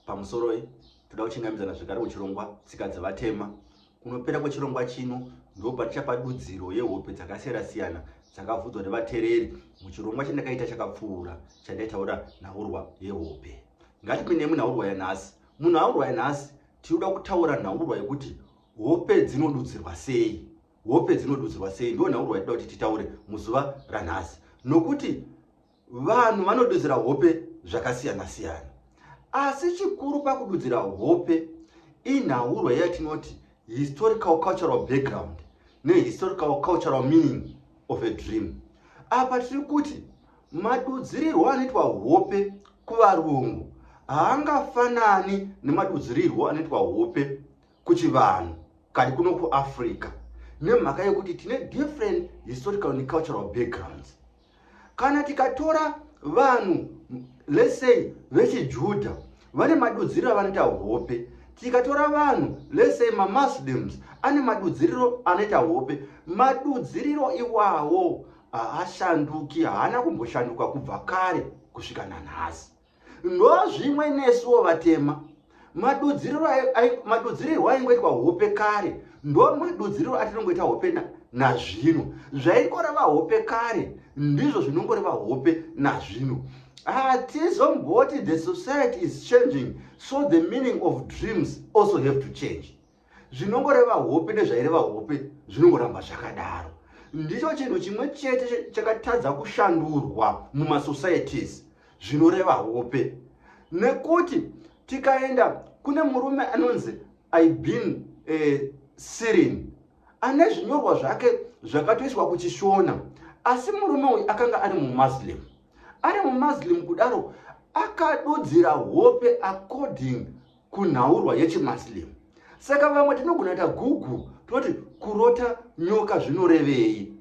Pamusoroi, toda kuchingamidzana zvekare kuchirongwa Tsika dzeVatema. Kunopera kwechirongwa chino ndipo patichapa dudziro yehope dzakasiyana-siyana dzakavhudzwa nevatereri muchirongwa chandakaita chakapfuura chandaitaura nhaurwa yehope. Ngatipinde munhaurwa yanhasi. Munhaurwa yanhasi tinoda kutaura nhaurwa yekuti hope dzinodudzirwa sei hope dzinodudzirwa sei ndiwo nhaurwa yatida kuti titaure muzuva ranhasi nokuti Vanhu vanodudzira hope zvakasiyana siyana. Asi chikuru pakududzira hope inhaurwa yatinoti historical cultural background nehistorical cultural meaning of a dream. Apa tiri kuti madudzirirwo anoitwa hope kuvarungu haangafanani nemadudzirirwo anoitwa hope kuchivanhu kadi kuno kuafrica nemhaka yekuti tine different historical and cultural backgrounds kana tikatora vanhu let's say vechijudha vane madudziriro avanoita hope tikatora vanhu let's say mamuslims ane madudziriro anoita hope madudziriro iwawo haashanduki haana kumboshanduka kubva kare kusvika nanhasi ndozvimwe nesuwo vatema madudzirirwo aingoitwa hope kare ndo madudziriro atinongoita hope nazvino zvaingoreva hope kare ndizvo zvinongoreva hope nazvino hatizomboti the society is changing so the meaning of dreams also have to change zvinongoreva hope nezvaireva hope zvinongoramba zvakadaro ndicho chinhu chimwe chete chakatadza kushandurwa mumasocieties zvinoreva hope nekuti tikaenda kune murume anonzi ibin e, eh, sirin ane zvinyorwa zvake zvakatoiswa kuchishona asi murume uyu akanga ari mumuslim ari mumuslim kudaro akadudzira hope according kunhaurwa yechimuslim saka vamwe tinogona ta google toti kurota nyoka zvinorevei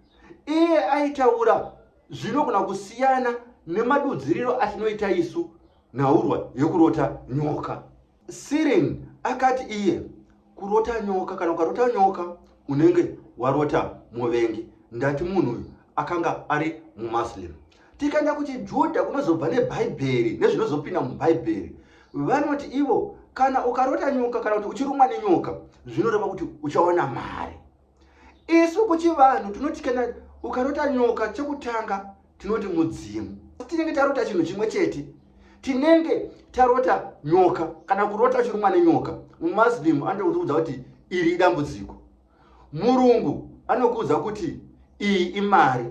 iye aitaura zvinogona kusiyana nemadudziriro atinoita isu nhaurwa yekurota nyoka sirin akati iye kurota nyoka kana ukarota nyoka unenge warota muvengi ndati munhu uyu akanga ari mumuslim Tikaenda kuchiJudha kunozobva neBhaibheri nezvinozopinda muBhaibheri. Vanoti ivo kana ukarota nyoka kana kuti uchirumwa nenyoka zvinoreva kuti uchaona mari. Isu kuchivanhu tinoti kana ukarota nyoka chekutanga tinoti mudzimu. Tinenge tarota chinhu chimwe chete. Tinenge tarota nyoka kana kurota uchirumwa nenyoka. MuMuslim anokuudza kuti iri idambudziko. Murungu anokuudza kuti iyi imari.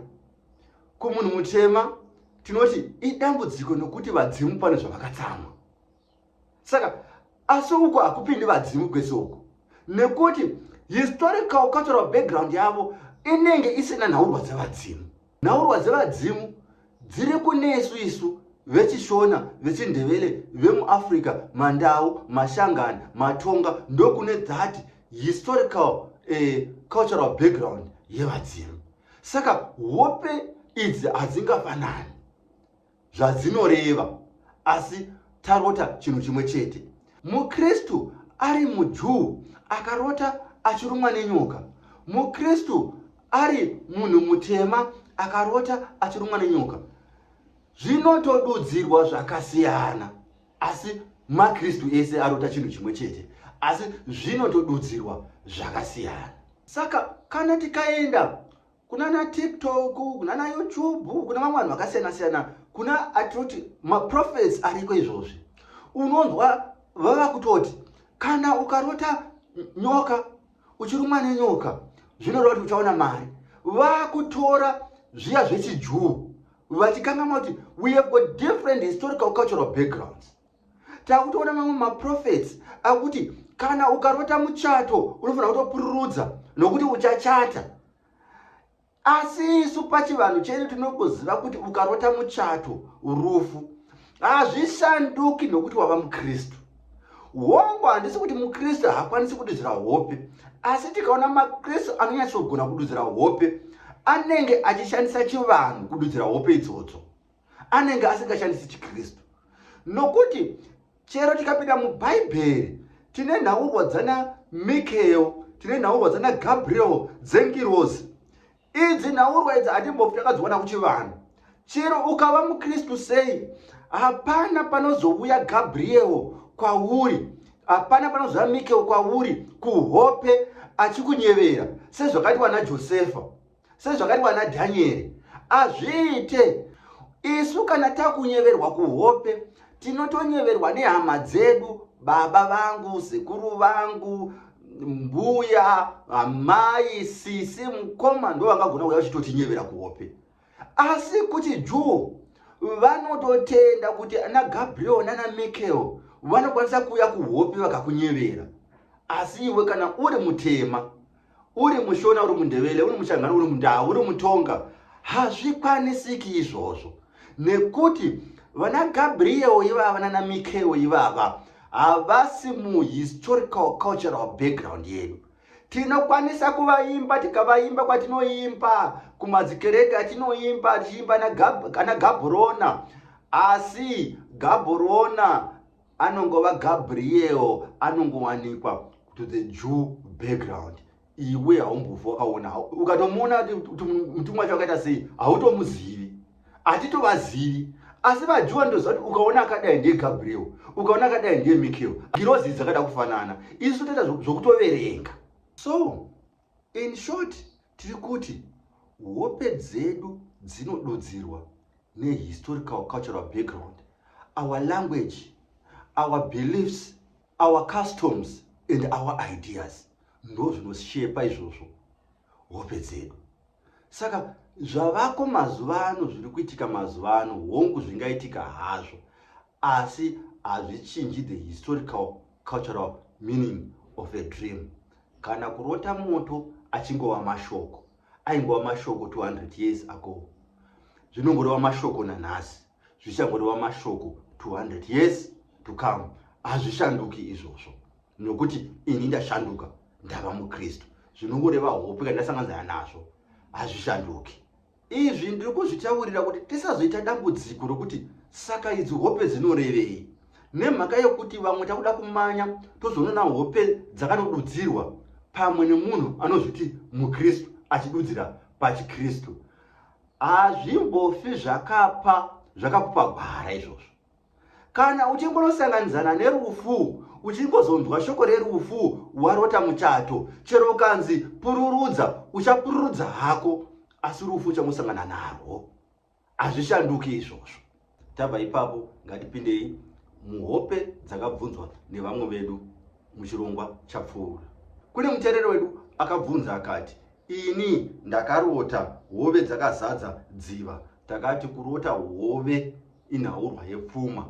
kumunhu mutema tinoti idambudziko nokuti vadzimu pane zvavakatsamwa saka asi uko hakupindi vadzimu kwese uko nekuti historical cultural background yavo inenge isina nhaurwa dzevadzimu nhaurwa dzevadzimu dziri kunesu isu vechishona vechindevele vemuafrica mandau mashangani matonga ndokune that historical eh, cultural background yevadzimu saka hope idzi hadzingafanani zvadzinoreva asi tarota chinhu chimwe chete mukristu ari mujuu akarota achirumwa nenyoka mukristu ari munhu mutema akarota achirumwa nenyoka zvinotodudzirwa zvakasiyana asi makristu ese arota chinhu chimwe chete asi zvinotodudzirwa zvakasiyana saka kana tikaenda kuna na tiktok kuna na youtube kuna vamwe vanhu vakasiyana siyana kuna atoti maprofets ariko izvozvi unonzwa vava kutoti kana ukarota nyoka uchirumwa nenyoka zvinoreva kuti uchaona mari vakutora zviya zvechijuu vachikangamwa kuti we have got different historical cultural backgrounds takutoona mamwe maprofets akuti kana ukarota muchato unofanira kutopururudza nokuti uchachata asi isu pachivanhu chedu tinongoziva kuti ukarota muchato rufu hazvishanduki nokuti wava mukristu hongu handisi kuti mukristu haakwanisi kududzira hope asi tikaona makristu anonyatsogona kududzira hope anenge achishandisa chivanhu kududzira hope idzodzo anenge asingashandisi chikristu nokuti Chero tikapinda muBhaibheri, tine nhaurwa dzana Mikael, tine nhaurwa dzana Gabriel dzengirozi. Idzi nhaurwa idzi hatimbofi takadziwana kuchivanhu. Chero ukava muKristu sei, hapana panozouya Gabriel kwauri, hapana panozouya Mikael kwauri kuhope achikunyevera sezvakatiwa naJosefa. sezvakati vana dhanyeri azviite isu kana takunyeverwa kuhope tinotonyeverwa nehama dzedu baba vangu sekuru vangu mbuya amai sisi mukoma ndo vangagona kuya vachitotinyevera kuhope asi kuti juu vanototenda kuti ana gabriel nana michael vanokwanisa kuuya kuhope vakakunyevera asi iwe kana uri mutema uri mushona uri mundevele uri muchangana uri mundau uri mutonga hazvikwanisiki izvozvo nekuti vana gabriel ivava nana mikeo ivava havasi muhistorical cultural background yedu tinokwanisa kuvaimba tikavaimba kwatinoimba kumadzikereke atinoimba tichiimba ana gabrona asi gabrona anongova gabriel anongowanikwa to the jew background iwe haumbovo aona ukatomuona kuti mutumwa wacho akaita sei hautomuzivi hatitovazivi asi vajuwa ndoziva kuti ukaona akadai ndiye gabriel ukaona akadai ndiye michael girozi dzakada kufanana isu toita zvokutoverenga so In short, tiri kuti hope dzedu dzinodudzirwa nehistorical cultural background, our language, our beliefs, our customs and our ideas ndozvinoshepa izvozvo hope dzedu saka zvavako mazuva ano zviri kuitika mazuva ano hongu zvingaitika hazvo asi hazvichinji the historical cultural meaning of a dream kana kurota moto achingova mashoko aingova mashoko 200 years ago zvinongoreva mashoko nanhasi zvichangorewa mashoko 200 years to come hazvishanduki izvozvo nokuti ini ndashanduka ndava mukristu zvinongoreva hope kana ndasanganzana nazvo hazvishanduki izvi ndiri kuzvitaurira kuti tisazoita dambudziko rokuti saka idzi hope dzinorevei nemhaka yokuti vamwe takuda kumanya tozoonana hope dzakanodudzirwa pamwe nemunhu anozviti mukristu achidudzira pachikristu hazvimbofi zvakapa zvakakupa gwara izvozvo kana uchingonosanganidzana nerufu uchingozonzwa shoko rerufu warota muchato chero ukanzi pururudza uchapururudza hako asi rufu uchangosangana narwo hazvishanduki izvozvo Tabva ipapo ngatipindei muhope dzakabvunzwa nevamwe vedu muchirongwa chapfuura. Kune mutereri wedu akabvunza akati, ini ndakarota hove dzakazadza dziva. Takati kurota hove inhaurwa yepfuma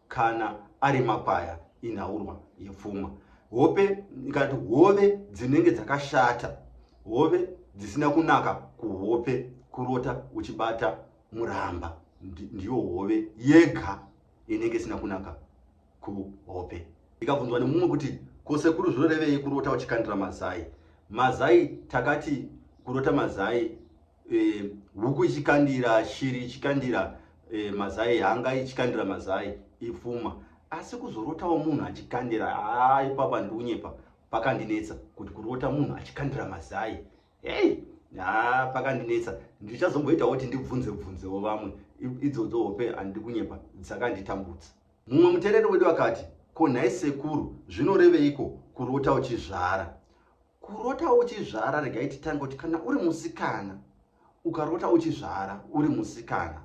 kana ari makwaya inhaurwa yepfuma. Hope ngati hove dzinenge dzakashata, hove dzisina kunaka kuhope kurota uchibata muramba ndiyo hove yega inenge isina kunaka kuhope ikabvunzwa nemumwe kuti kosekuru zvinorevei kurota uchikandira mazai mazai takati kurota mazai e, huku ichikandira shiri ichikandira e, mazai hanga ichikandira mazai ipfuma asi kuzorotawo munhu achikandira haa ipapa ndiunyepa pakandinetsa kuti kurota munhu achikandira mazai hey haa pakandinetsa ndichazomboitawo kuti ndibvunze bvunzewo vamwe idzodzo hope handidi kunyepa dzakanditambudza mumwe mutereri wedu akati ko nhai sekuru zvinoreveiko kurota uchizvara kurota uchizvara regai titange kuti kana uri musikana ukarota uchizvara uri musikana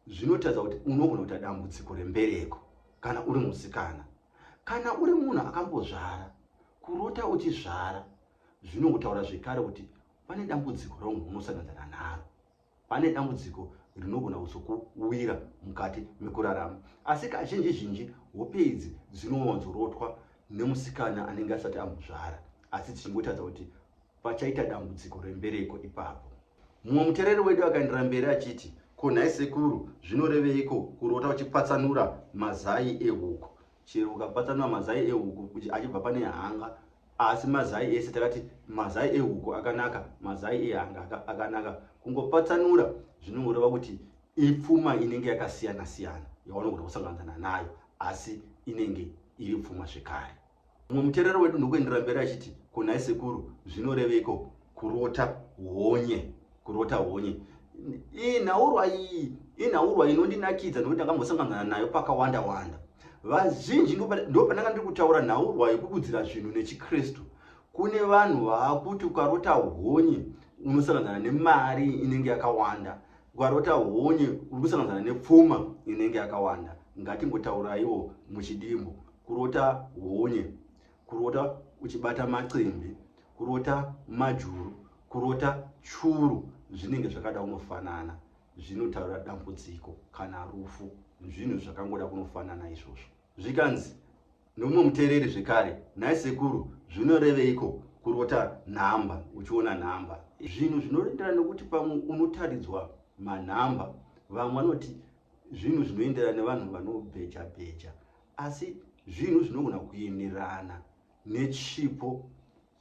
zvinotaridza kuti unogona kuita dambudziko rembereko kana uri musikana kana uri munhu akambozvara kurota uchizvara Zvino kutaura zvekare kuti pane dambudziko raunhu unosangadzana naro, pane dambudziko rinogona kuzokuwira mukati mekurarama. Asi kazhinji zhinji hope idzi dzinowanzorotwa nemusikana anenge asati amuzvara, asi dzichingotadza kuti pachaita dambudziko rembereko ipapo. Mumwe mutereri wedu akaendera mberi achiti, Ko nhai sekuru, zvinoreveiko kurota uchipatsanura mazai ehuku? Chero ukapatsanura mazai ehuku achibva pane hanga Asi mazai ese takati mazai ehuku akanaka, mazai ehanga akanaka. Kungopatsanura zvinongoreva kuti ipfuma inenge yakasiyana siyana yaunogona kusanganisana nayo asi inenge iri pfuma zvekare. Mumwe muterero wedu ndokuenderera mberi achiti, Ko nhai sekuru, zvinoreveiko kurota honye? kurota honye iyi nhaurwa iyi inhaurwa inondinakidza nokuti ndakambosanganana nayo pakawanda wanda vazhinji ndo pandanga ndiri kutaura nhaurwa yekubudzira zvinhu nechikristu kune vanhu vaakuti ukarota honye unosanganana nemari inenge yakawanda ukarota honye uri kusanganana nepfuma inenge yakawanda ngatingotauraiwo muchidimbo kurota honye kurota uchibata macimbi kurota majuru kurota churu zvinenge zvakada kunofanana zvinotaura dambudziko kana rufu zvinhu zvakangoda kunofanana izvozvo zvikanzi nomumwe muteereri zvekare nhai sekuru zvinoreveiko kurota nhamba uchiona nhamba zvinhu zvinoenderana nokuti pamwe unotaridzwa manhamba vamwe vanoti zvinhu zvinoenderana nevanhu vanobheja bheja asi zvinhu zvinogona kuenderana nechipo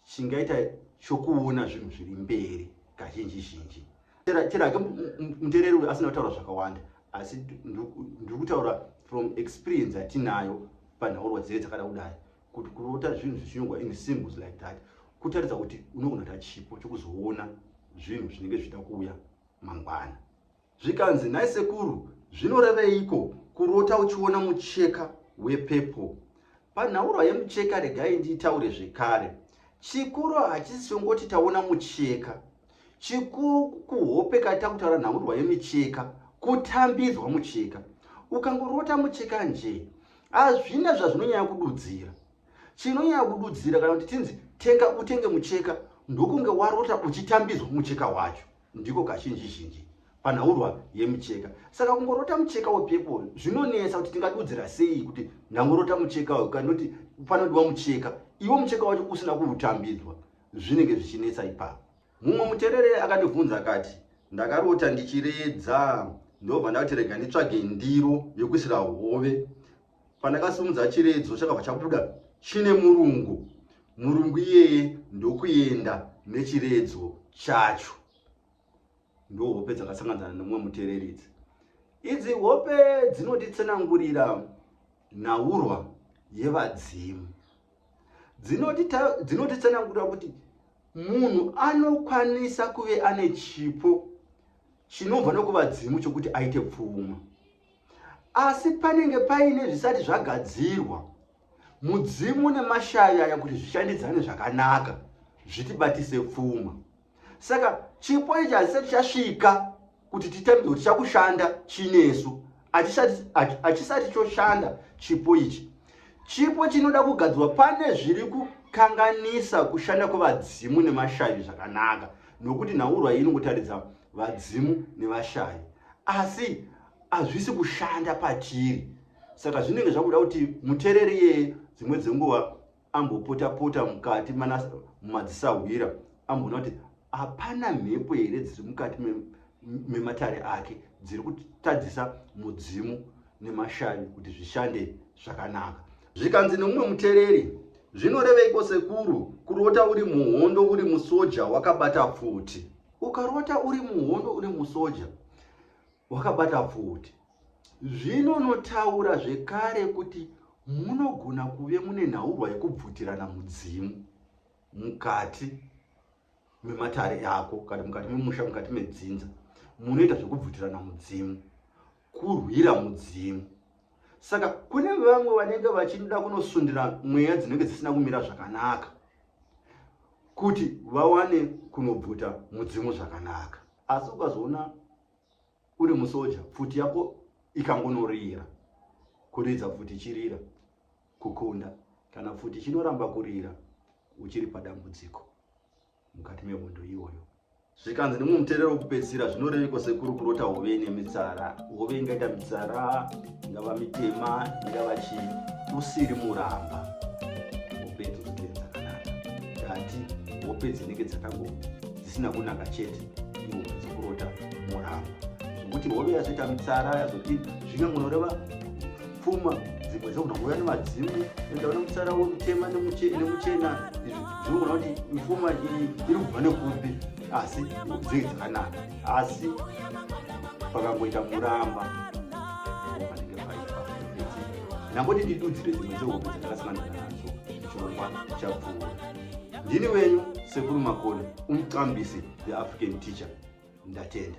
chingaita chokuona zvinhu zviri mberi kazhinji zhinji chero hake mutereri uyo asina kutaura zvakawanda asi ndiri kutaura from experience atinayo panhaurwa dzee dzakada kudai kuti kurota zvinhu zvichinyogwa in symbols like that kutaridza kuti unogona ta chipo chokuzoona zvinhu zvinenge zvichida kuuya mangwana Zvikanzi, nhai sekuru, zvinoreveiko kurota uchiona mucheka wepepo? Panhaurwa yemucheka regai ndiitaure zvekare. Chikuru hachisi chongoti taona mucheka. Chikuru kuhope kati takutaura nhaurwa yemicheka, kutambidzwa mucheka. Ukangorota mucheka njee, hazvina zvazvinonyanya kududzira. Chinonyanya kududzira kana kuti tinzi tenga utenge mucheka ndokunge warota uchitambidzwa mucheka wacho. ndiko kazhinji zhinji panhaurwa yemucheka saka kungorota mucheka wepepo zvinonetsa kuti tingadudzira sei kuti ndangorota mucheka uyu kana kuti panodiwa mucheka iwo mucheka wacho usina kuutambidzwa zvinenge zvichinetsa ipapo mumwe muterere akandibvunza akati ndakarota ndichiredza ndobva ndakuti rega nditsvage ndiro yekuisira hove Pandakasimudza chiredzo chakabva chabuda chine murungu. Murungu iyeye ndokuenda nechiredzo chacho. Ndohope dzakasanganzana nemumwe mutereridzi. Idzi hope dzinotitsenangurira nhaurwa yevadzimu. Dzinotitsenangurira kuti munhu anokwanisa kuve ane chipo chinobva nokuvadzimu chokuti aite pfuma. asi panenge paine zvisati zvagadzirwa mudzimu nemashavi aya kuti zvishandidzane zvakanaka zvitibatise pfuma saka chipo ichi hazisati chasvika kuti titambe kuti chakushanda chinesu hachisati choshanda chipo ichi chipo chinoda kugadzirwa pane zviri kukanganisa kushanda kwevadzimu nemashavi zvakanaka nokuti nhaurwa iyi inongotaridza vadzimu nevashavi asi hazvisi kushanda patiri saka zvinenge zvakuda kuti mutereri iyeye dzimwe dzenguva ambopota-pota mukati mumadzisahwira amboona kuti hapana mhepo here dziri mukati mematare ake dziri kutadzisa mudzimu nemashavi kuti zvishande zvakanaka zvikanzi nemumwe mutereri zvinoreveiko sekuru kurota uri muhondo uri musoja wakabata pfuti ukarota uri muhondo uri musoja wakabata pfuti zvino unotaura zvekare kuti munogona kuve mune nhaurwa yekubvutirana mudzimu mukati mematare ako kana mukati memusha mukati medzinza munoita zvekubvutirana mudzimu kurwira mudzimu saka kune vamwe vanenge vachinoda kunosundira mweya dzinenge dzisina kumira zvakanaka kuti vawane kunobvuta mudzimu zvakanaka asi ukazoona uri musoja pfuti yako ikangonorira kuridza pfuti ichirira kukunda kana pfuti ichinoramba kurira uchiri padambudziko mukati mehondo iyoyo zvikanzi nemumwe muterero wekupedzisira zvinoreveko sekuru kurota hove ine mitsara hove ingaita mitsara ingava mitema ingava chii usiri muramba hope dzozotenzakanaka tati hope dzinenge dzakango dzisina kunaka chete iwo dzokurota muramba zvekuti hove yazoita mitsara yazodii zvingangonoreva pfuma dzimwe dzokunogova nemadzimu enda une mutsara wemutema nemuchena izvi zvinogona kuti mifuma iyi iri kubva nekupi asi dzei dzakanaka asi pakangoita muramba panenge paipa nangoti ndidudzire dzimwe dzehope dzakasangana nadzo chirongwa chapfuura ndini wenyu sekuru makoni umqambisi the african teacher ndatenda